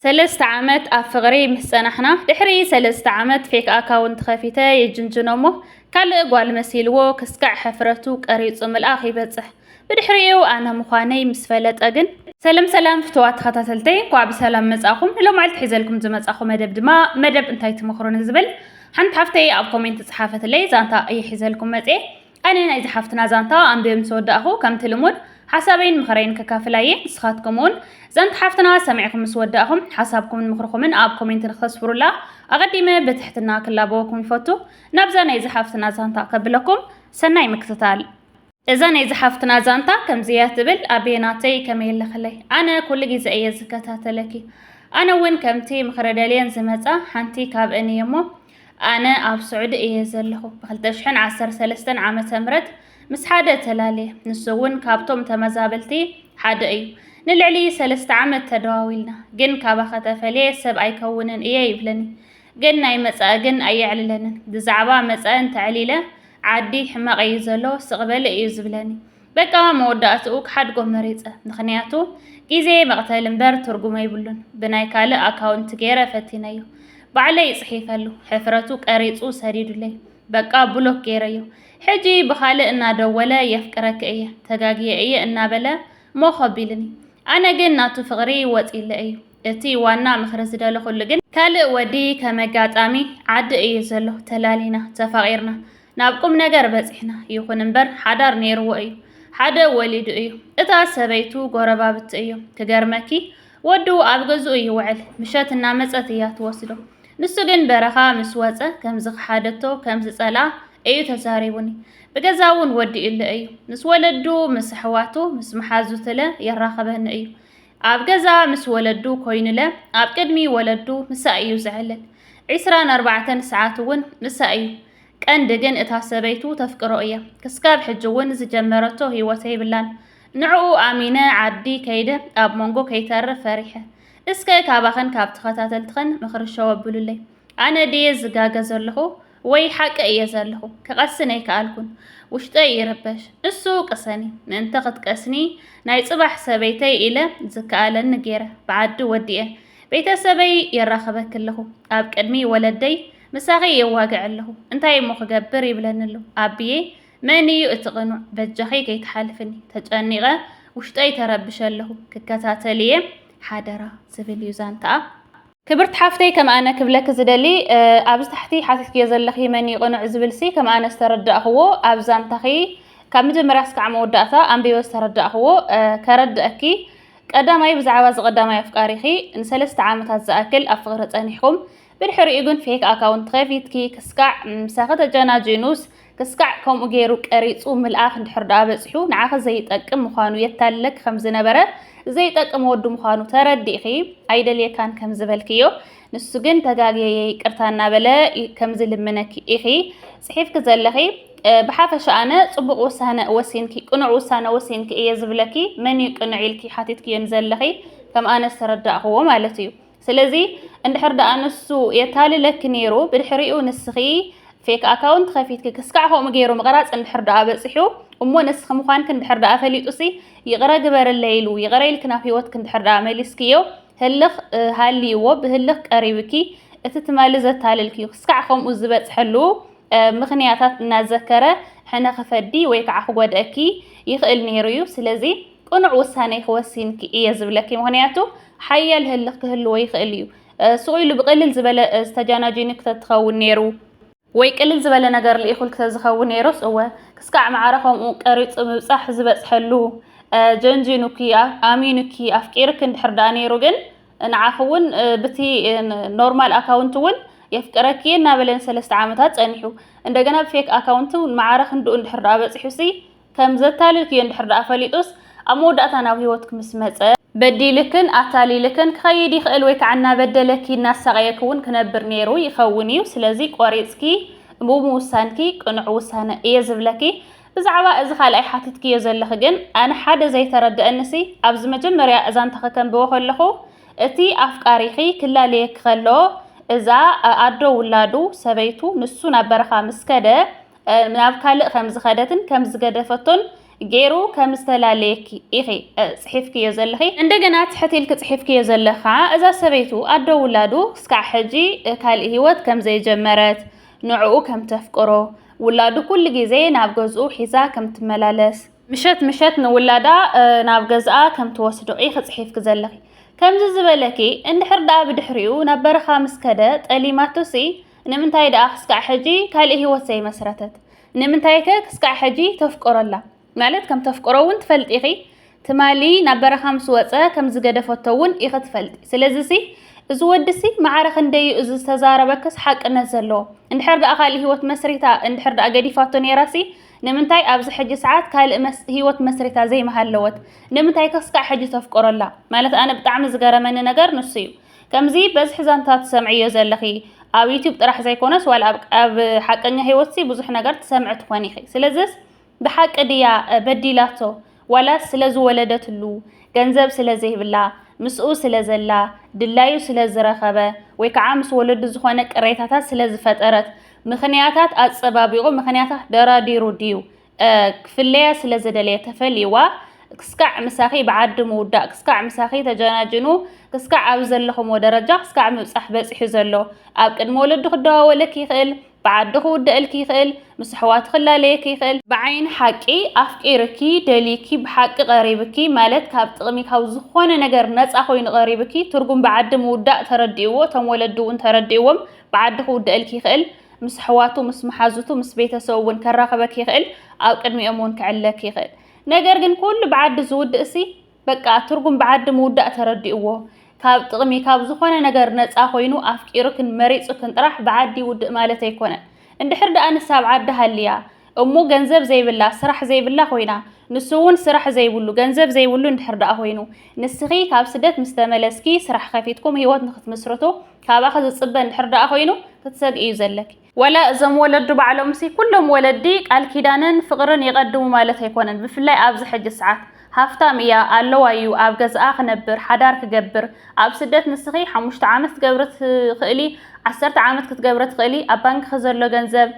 ሰለስተ ዓመት ኣብ ፍቅሪ ምስ ጸናሕና ድሕሪ ሰለስተ ዓመት ፌክ ኣካውንት ከፊተ የጅንጅኖ እሞ ካልእ ጓል መሲልዎ ክስካዕ ሕፍረቱ ቀሪጹ ምልኣኽ ይበጽሕ ብድሕሪኡ ኣነ ምዃነይ ምስ ፈለጠ ግን ሰላም ሰላም ፍትዋት ተኸታተልተይ እንኳዕ ብሰላም መጻኹም ንሎማዓልቲ ሒዘልኩም ዝመጻኹ መደብ ድማ መደብ እንታይ ትመኽሩኒ ዝብል ሓንቲ ሓፍተይ ኣብ ኮሜንት ጸሓፈትለይ ዛንታ እየ ሒዘልኩም መጽኤ ኣነ ናይዛ ሓፍትና ዛንታ ኣንቢበ ምስ ወዳእኹ ከምቲ ልሙድ ሓሳበይን ምኽረይን ከካፍል ኣየ ንስኻትኩም ውን ዛንታ ሓፍትና ሰሚዕኹም ምስ ወዳእኹም ሓሳብኩምን ምኽርኹምን ኣብ ኮሜንት ንክተስፍሩላ ኣቐዲመ ብትሕትና ክላበወኩም ይፈቱ ናብዛ ናይዛ ሓፍትና ዛንታ ከብለኩም ሰናይ ምክትታል እዛ ናይ ዝሓፍትና ዛንታ ከምዚያ ትብል ኣቤ ናተይ ከመይ ኣለኽለይ ኣነ ኩሉ ግዜ እየ ዝከታተለኪ ኣነ እውን ከምቲ ምኽረ ደልየን ዝመፃ ሓንቲ ካብእን እየ እሞ ኣነ ኣብ ስዑዲ እየ ዘለኹ። ብ ክልተ ሽሕን ዓሰርተ ሰለስተን ዓመተ ምህረት ምስ ሓደ ተላልየ፣ ንሱ እውን ካብቶም ተመዛበልቲ ሓደ እዩ። ንልዕሊ ሰለስተ ዓመት ተደዋዊልና፣ ግን ካባኸ ተፈልየ ሰብ ኣይከውንን እየ ይብለኒ። ግን ናይ መጻኢ ግን ኣየዕልለንን። ብዛዕባ መጻኢ እንተዕሊለ ዓዲ ሕማቕ እዩ ዘሎ፣ ስቕ በሊ እዩ ዝብለኒ። በቃ መወዳእትኡ ክሓድጎ መሪጸ ምኽንያቱ ግዜ መቕተሊ እምበር ትርጉም ኣይብሉን ብናይ ካልእ ኣካውንት ገይረ ፈቲነዮ ባዕለይ ጽሒፈሉ ሕፍረቱ ቀሪጹ ሰዲዱለይ በቃ ብሎክ ገይረዮ ሕጂ ብኻልእ እናደወለ የፍቅረኪ እየ ተጋግየ እየ እናበለ ሞኽ ኣቢልኒ ኣነ ግን ናቱ ፍቕሪ ወጺለ እዩ እቲ ዋና ምኽሪ ዝደለኹሉ ግን ካልእ ወዲ ከም ኣጋጣሚ ዓዲ እዩ ዘሎ ተላሊና ተፋቒርና ናብ ቁምነገር በጺሕና ይኹን እምበር ሓዳር ኔርዎ እዩ ሓደ ወሊዱ እዩ እታ ሰበይቱ ጎረባብቲ እዮም ክገርመኪ ወዱ ኣብ ገዝኡ ይውዕል ምሸት እናመጸት እያ ትወስዶ ንሱ ግን በረኻ ምስ ወጸ ከም ዝኸሓደቶ ከም ዝጸልኣ እዩ ተዛሪቡኒ ብገዛ እውን ወዲኡለ እዩ ምስ ወለዱ ምስ ኣሕዋቱ ምስ መሓዙትለ የራኸበኒ እዩ ኣብ ገዛ ምስ ወለዱ ኮይኑለ ኣብ ቅድሚ ወለዱ ምሳ እዩ ዝዕልል ዒስራን ኣርባዕተን ሰዓት እውን ምሳ እዩ ቀንዲ ግን እታ ሰበይቱ ተፍቅሮ እያ ክስካብ ሕጂ ውን ዝጀመረቶ ሂወት የብላን ንዑኡ ኣሚነ ዓዲ ከይደ ኣብ መንጎ ከይተርፍ ፈሪሐ እስከ ካባክን ካብ ተከታተልትክን ምክሪ ሸው ኣብሉለይ ኣነ ድየ ዝጋገ ዘለኩ ወይ ሓቂ እየ ዘለኩ ክቀስን ኣይከኣልኩን ውሽጠይ ይርበሽ እሱ ቅሰኒ ምእንተ ክትቀስኒ ናይ ጽባሕ ሰበይተይ ኢለ ዝከኣለኒ ገይረ ብዓዲ ወዲኤ ቤተሰበይ የራክበኪ ኣለኩ ኣብ ቅድሚ ወለደይ ምሳኺ የዋግዕ ኣለኹ እንታይ እሞ ክገብር ይብለኒ ኣሎ ኣቢየይ መን እዩ እቲ ቅኑዕ በጃኺ ከይትሓልፍኒ ተጨኒቐ ውሽጠይ ተረብሸ ኣለኹ ክከታተል እየ ሓደራ ዝብል እዩ ዛንታኣ ክብርቲ ሓፍተይ ከም ኣነ ክብለኪ ዝደሊ ኣብዚ ታሕቲ ሓቲትክዮ ዘለኺ መን እዩ ቅኑዕ ዝብልሲ ከም ኣነ ዝተረዳእኽዎ ኣብ ዛንታኺ ካብ መጀመርያ ስካዕ መወዳእታ ኣንቢበ ዝተረዳእኽዎ ከረድእኪ ቀዳማይ ብዛዕባ እዚ ቀዳማይ ኣፍቃሪኺ ንሰለስተ ዓመታት ዝኣክል ኣብ ፍቕሪ ጸኒሕኩም ብድሕሪኡ ግን ፌክ ኣካውንት ከፊትኪ ክስካዕ ምሳኺ ተጀናጂኑስ ክስካዕ ከምኡ ገይሩ ቀሪጹ ምልኣኽ እንድሕር ደኣ በጺሑ ንዓኺ ዘይጠቅም ምዃኑ የታልለኪ ከም ዝነበረ ዘይጠቅም ወዱ ምዃኑ ተረዲእኺ ኣይደልየካን ከም ዝበልክዮ ንሱ ግን ተጋግየየ ይቅርታ እናበለ ከም ዝልምነኪ ኢኺ ጽሒፍኪ ዘለኺ ብሓፈሻ ኣነ ጽቡቕ ውሳነ ወሲንኪ ቅኑዕ ውሳነ ወሲንኪ እየ ዝብለኪ መን እዩ ቅኑዕ ኢልኪ ሓቲትክዮ ንዘለኺ ከም ኣነ ዝተረዳእኽዎ ማለት እዩ ስለዚ እንድሕር ደኣ ንሱ የታልለኪ ነይሩ ብድሕሪኡ ንስኺ ፌክ ኣካውንት ከፊትኪ ክስካዕ ከምኡ ገይሩ ምቕራጽ እንድሕር ደኣ በጺሑ እሞ ንስኺ ምዃንኪ እንድሕር ደኣ ፈሊጡሲ ይቕረ ግበርለይ ኢሉ ይቕረ ኢልኪ ናብ ህይወትኪ እንድሕር ደኣ መሊስክዮ ህልኽ ሃልይዎ ብህልኽ ቀሪብኪ እቲ ትማሊ ዘታልልክዩ ክስካዕ ከምኡ ዝበጽሐሉ ምኽንያታት እናዘከረ ሕነ ክፈዲ ወይ ከዓ ክጎድኣኪ ይኽእል ነይሩ እዩ ስለዚ ቅኑዕ ውሳኔ ክወሲንኪ እየ ዝብለኪ ምኽንያቱ ሓያል ህልኽ ክህልዎ ይኽእል እዩ። ስቕ ኢሉ ብቕልል ዝበለ ዝተጃናጂኒ ክተትኸውን ነይሩ። ወይ ቅልል ዝበለ ነገር ልኢኹል ክተዝኸውን ነይሩስ እወ፣ ክስካዕ መዓረ ከምኡ ቀሪጹ ምብጻሕ ዝበጽሐሉ። ጀንጂኑኪ፣ ኣሚኑኪ፣ ኣፍቂርኪ እንድሕር ደኣ ነይሩ ግን ንዓኺ እውን ብቲ ኖርማል ኣካውንት እውን የፍቅረኪ እናበለ ንሰለስተ ዓመታት ጸኒሑ እንደገና ብፌክ ኣካውንት መዓረ ክንድኡ እንድሕር ደኣ በጺሑሲ ከም ዘታልልክዮ እንድሕር ደኣ ፈሊጡስ ኣብ መወዳእታ ናብ ህይወትክ ምስ መጸ፣ በዲልክን ኣታሊልክን ክኸይድ ይኽእል ወይ ከኣ እናበደለኪ እናሳቐየኪ ውን ክነብር ኔሩ ይኸውን እዩ። ስለዚ ቆሪጽኪ ብምውሳንኪ ቅኑዕ ውሳነ እየ ዝብለኪ። ብዛዕባ እዚ ካልኣይ ሓቲትክዮ ዘለኺ ግን ኣነ ሓደ ዘይተረደኣኒሲ ኣብዚ መጀመርያ ዛንታኺ ከንብቦ ከለኹ እቲ ኣፍቃሪኺ ክላለየኪ ከሎ እዛ ኣዶ ውላዱ፣ ሰበይቱ፣ ንሱ ናብ በረኻ ምስ ከደ ናብ ካልእ ከም ዝኸደትን ከም ዝገደፈቶን ገይሩ ከም ዝተፈላለየኪ ኢኺ ጽሒፍክዮ ዘለኺ እንደገና ትሕት ኢልኪ ጽሒፍክዮ ዘለኻ እዛ ሰበይቱ ኣዶ ውላዱ ክስካዕ ሕጂ ካልእ ህይወት ከም ዘይጀመረት ንዕኡ ከም ተፍቅሮ ውላዱ ኩሉ ግዜ ናብ ገዝኡ ሒዛ ከም ትመላለስ ምሸት ምሸት ንውላዳ ናብ ገዝኣ ከም ትወስዶ ኢኺ ጽሒፍኪ ዘለኺ ከምዚ ዝበለኪ እንድሕር ደኣ ብድሕሪኡ ናብ በረኻ ምስ ከደ ጠሊማቶሲ ንምንታይ ደኣ ክስካዕ ሕጂ ካልእ ህይወት ዘይመስረተት? ንምንታይከ ክስካዕ ሕጂ ተፍቅሮ ኣላ? ማለት ከም ተፍቅሮ እውን ትፈልጢ ኢኺ፣ ትማሊ ናብ በረኻ ምስ ወጸ ከም ዝገደፈቶ እውን ኢኺ ትፈልጢ። ስለዚሲ እዚ ወዲሲ መዓረ ክንደይ እዩ እዚ ዝተዛረበክስ ሓቅነት ዘለዎ? እንድሕር ደኣ ካልእ ህይወት መስሪታ እንድሕር ደኣ ገዲፋቶ ነይራሲ ንምንታይ ኣብዚ ሕጂ ሰዓት ካልእ ህይወት መስሪታ ዘይምሃለወት? ንምንታይከ ክስካዕ ሕጂ ተፍቅሮ ኣላ? ማለት ኣነ ብጣዕሚ ዝገረመኒ ነገር ንሱ እዩ። ከምዚ በዝሒ ዛንታ ትሰምዕዮ ዘለኺ ኣብ ዩቱብ ጥራሕ ዘይኮነስ ዋላ ኣብ ኣብ ሓቀኛ ህይወትሲ ብዙሕ ነገር ትሰምዒ ትኾኒ ኢኺ። ስለዝስ ብሓቂ ድያ በዲላቶ ዋላስ ስለ ዝወለደትሉ ገንዘብ ስለ ዘይብላ ምስኡ ስለ ዘላ ድላዩ ስለ ዝረኸበ ወይ ከዓ ምስ ወለዱ ዝኾነ ቅሬታታት ስለ ዝፈጠረት ምኽንያታት ኣጸባቢቑ ምኽንያታት ደራዲሩ ድዩ ክፍለያ ስለ ዝደለየ ተፈልይዋ ክስካዕ ምሳኺ ብዓዲ ምውዳእ ክስካዕ ምሳኺ ተጀናጅኑ ክስካዕ ኣብ ዘለኹምዎ ደረጃ ክስካዕ ምብጻሕ በጺሑ ዘሎ ኣብ ቅድሚ ወለዱ ክደዋወለኪ ይኽእል ብዓዱ ክውደእልኪ ይኽእል ምስ ኣሕዋቱ ክላለየኪ ይኽእል ብዓይኒ ሓቂ ኣፍቂርኪ ደልዩኪ ብሓቂ ቀሪብኪ ማለት ካብ ጥቕሚ ካብ ዝኾነ ነገር ነጻ ኮይኑ ቀሪብኪ ትርጉም ብዓዲ ምውዳእ ተረዲእዎ እቶም ወለዱ እውን ተረዲእዎም ብዓዱ ክውደእልኪ ይኽእል ምስ ኣሕዋቱ፣ ምስ መሓዙቱ፣ ምስ ቤተሰቡ እውን ከራኽበኪ ይኽእል፣ ኣብ ቅድሚኦም እውን ክዕለኪ ይኽእል። ነገር ግን ኩሉ ብዓዲ ዝውድእሲ በቃ ትርጉም ብዓዲ ምውዳእ ተረዲእዎ ካብ ጥቕሚ ካብ ዝኾነ ነገር ነፃ ኮይኑ ኣፍቂሩክን መሪፁክን ጥራሕ ብዓዲ ይውድእ ማለት ኣይኮነን። እንድሕር ደኣ ንሳ ኣብ ዓዳ ሃልያ እሞ ገንዘብ ዘይብላ ስራሕ ዘይብላ ኮይና ንሱ እውን ስራሕ ዘይብሉ ገንዘብ ዘይብሉ እንድሕር ደኣ ኮይኑ ንስኺ ካብ ስደት ምስ ተመለስኪ ስራሕ ከፊትኩም ህይወት ንክትምስርቱ ካባኺ ዝፅበ እንድሕር ደኣ ኮይኑ ክትሰግኢ እዩ ዘለኪ። ወላ እዞም ወለዱ ባዕሎምሲ ኩሎም ወለዲ ቃል ኪዳንን ፍቕርን የቐድሙ ማለት ኣይኮነን ብፍላይ ኣብዚ ሕጂ ሰዓት። ሃፍታም እያ ኣለዋ እዩ ኣብ ገዝኣ ክነብር ሓዳር ክገብር ኣብ ስደት ንስኺ ሓሙሽተ ዓመት ክትገብሪ ትኽእሊ ዓሰርተ ዓመት ክትገብሪ ትኽእሊ ኣብ ባንክኺ ዘሎ ገንዘብ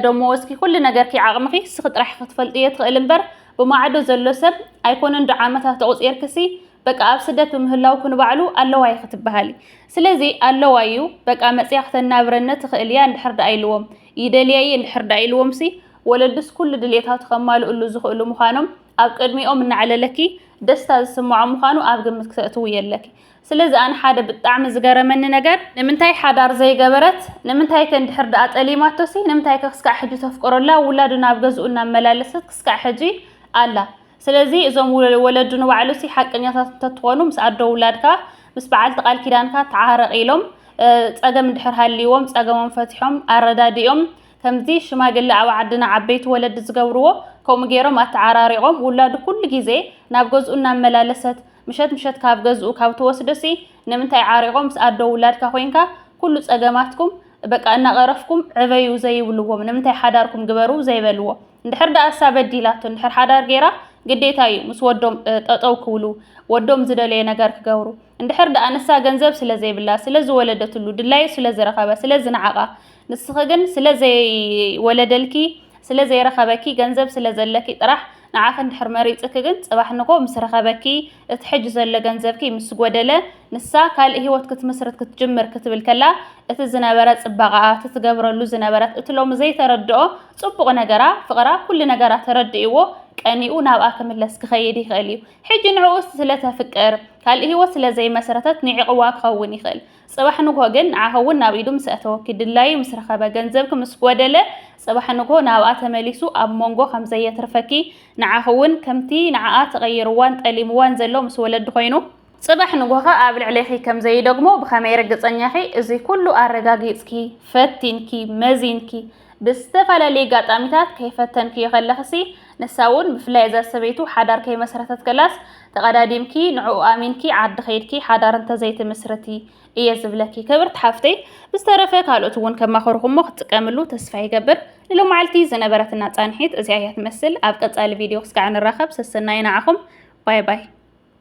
ዶሞ ወስኪ ኩሉ ነገርኪ ዓቅምኺ ንስኺ ጥራሕ ክትፈልጢ እየ ትኽእል እምበር ብማዕዶ ዘሎ ሰብ ኣይኮነን ዶ ዓመታት ተቁፂርክሲ በቃ ኣብ ስደት ብምህላውኩ ንባዕሉ ኣለዋ ኢኺ ትበሃሊ ስለዚ ኣለዋ እዩ በቃ መፅያ ክተናብረኒ ትኽእል እያ እንድሕር ደኣ ኢልዎም ይደልያ እየ እንድሕር ደኣ ኢልዎምሲ ወለድስ ኩሉ ድሌታቱ ከማልእሉ ዝኽእሉ ምዃኖም ኣብ ቅድሚኦም እናዕለለኪ ደስታ ዝስምዖም ምዃኑ ኣብ ግምት ክተእትውዮ ኣለኪ ስለዚ ኣነ ሓደ ብጣዕሚ ዝገረመኒ ነገር ንምንታይ ሓዳር ዘይገበረት ንምንታይ ከ እንድሕር ደኣ ጠሊማቶ ሲ ንምንታይ ከ ክስካዕ ሕጂ ተፍቅሮ ኣላ ውላዱ ናብ ገዝኡ እናመላለሰት ክስካዕ ሕጂ ኣላ ስለዚ እዞም ወለዱ ንባዕሉ ሲ ሓቀኛታት እንተትኾኑ ምስ ኣዶ ውላድካ ምስ በዓልቲ ቃል ኪዳንካ ተዓረቕ ኢሎም ጸገም እንድሕር ሃልይዎም ጸገሞም ፈቲሖም ኣረዳዲኦም ከምዚ ሽማግለ ኣብ ዓድና ዓበይቲ ወለዲ ዝገብርዎ ከምኡ ገይሮም ኣተዓራሪቖም ውላዱ ኩሉ ግዜ ናብ ገዝኡ እናመላለሰት ምሸት ምሸት ካብ ገዝኡ ካብ ትወስድሲ ንምንታይ ዓሪቆም ምስ ኣዶ ውላድካ ኮይንካ ኩሉ ጸገማትኩም በቃ እናቀረፍኩም ዕበዩ ዘይብልዎም ንምንታይ ሓዳርኩም ግበሩ ዘይበልዎ እንድሕር ደኣ እሳ በዲላቶ እንድሕር ሓዳር ጌራ ግዴታ እዩ ምስ ወዶም ጠጠው ክብሉ ወዶም ዝደለዮ ነገር ክገብሩ እንድሕር ደኣ ንሳ ገንዘብ ስለ ዘይብላ ስለ ዝወለደትሉ ድላዩ ስለ ዝረኸበ ስለ ዝነዓቃ ንስኺ ግን ስለ ዘይወለደልኪ ስለ ዘይረኸበኪ ገንዘብ ስለ ዘለኪ ጥራሕ ንዓኺ እንድሕር መሪጽኪ ግን ጽባሕ ንጎ ምስ ረኸበኪ እቲ ሕጂ ዘሎ ገንዘብኪ ምስ ጎደለ ንሳ ካልእ ሂወት ክትምስርት ክትጅምር ክትብል ከላ እቲ ዝነበረ ጽባቐኣ እቲ ትገብረሉ ዝነበረት እቲ ሎሚ ዘይተረድኦ ጽቡቕ ነገራ ፍቕራ ኩሉ ነገራ ተረዲእዎ ቀኒኡ ናብኣ ክምለስ ክኸይድ ይኽእል እዩ። ሕጂ ንዕኡ ስለ ተፍቅር ካልእ ሂወት ስለ ዘይመስረተት ንዒቕዋ ክኸውን ይኽእል። ጽባሕ ንግሆ ግን ንዓኺ እውን ናብ ኢዱ ምስ ኣእተወኪ፣ ድላዩ ምስ ረኸበ፣ ገንዘብኪ ምስ ጎደለ፣ ጽባሕ ንግሆ ናብኣ ተመሊሱ ኣብ ሞንጎ ከም ዘየትርፈኪ፣ ንዓኺ እውን ከምቲ ንዓኣ ተቐይሩዋን ጠሊሙዋን ዘሎ ምስ ወለዲ ኮይኑ፣ ጽባሕ ንግሆ ከኣ ኣብ ልዕሌኺ ከም ዘይደግሞ ብኸመይ ርግጸኛ ኢኺ? እዚ ኩሉ ኣረጋጊጽኪ፣ ፈቲንኪ፣ መዚንኪ፣ ብዝተፈላለየ ጋጣሚታት ከይፈተንክዮ ከለኽሲ ንሳ ውን ብፍላይ እዛ ሰበይቱ ሓዳር ከይመሰረተት ከላስ ተቀዳዲምኪ ንዕኡ ኣሚንኪ ዓዲ ከይድኪ ሓዳር እንተዘይትምስርቲ እየ ዝብለኪ ክብርቲ ሓፍተይ ብዝተረፈ ካልኦት ውን ከማኽርኹሞ ክትጥቀምሉ ተስፋ ይገብር ንሎማዓልቲ ዝነበረትና ፃንሒት እዚኣ እያ ትመስል ኣብ ቀፃሊ ቪድዮ ክስካዕ ንራኸብ ሰሰናዩ ንዓኹም ባይ ባይ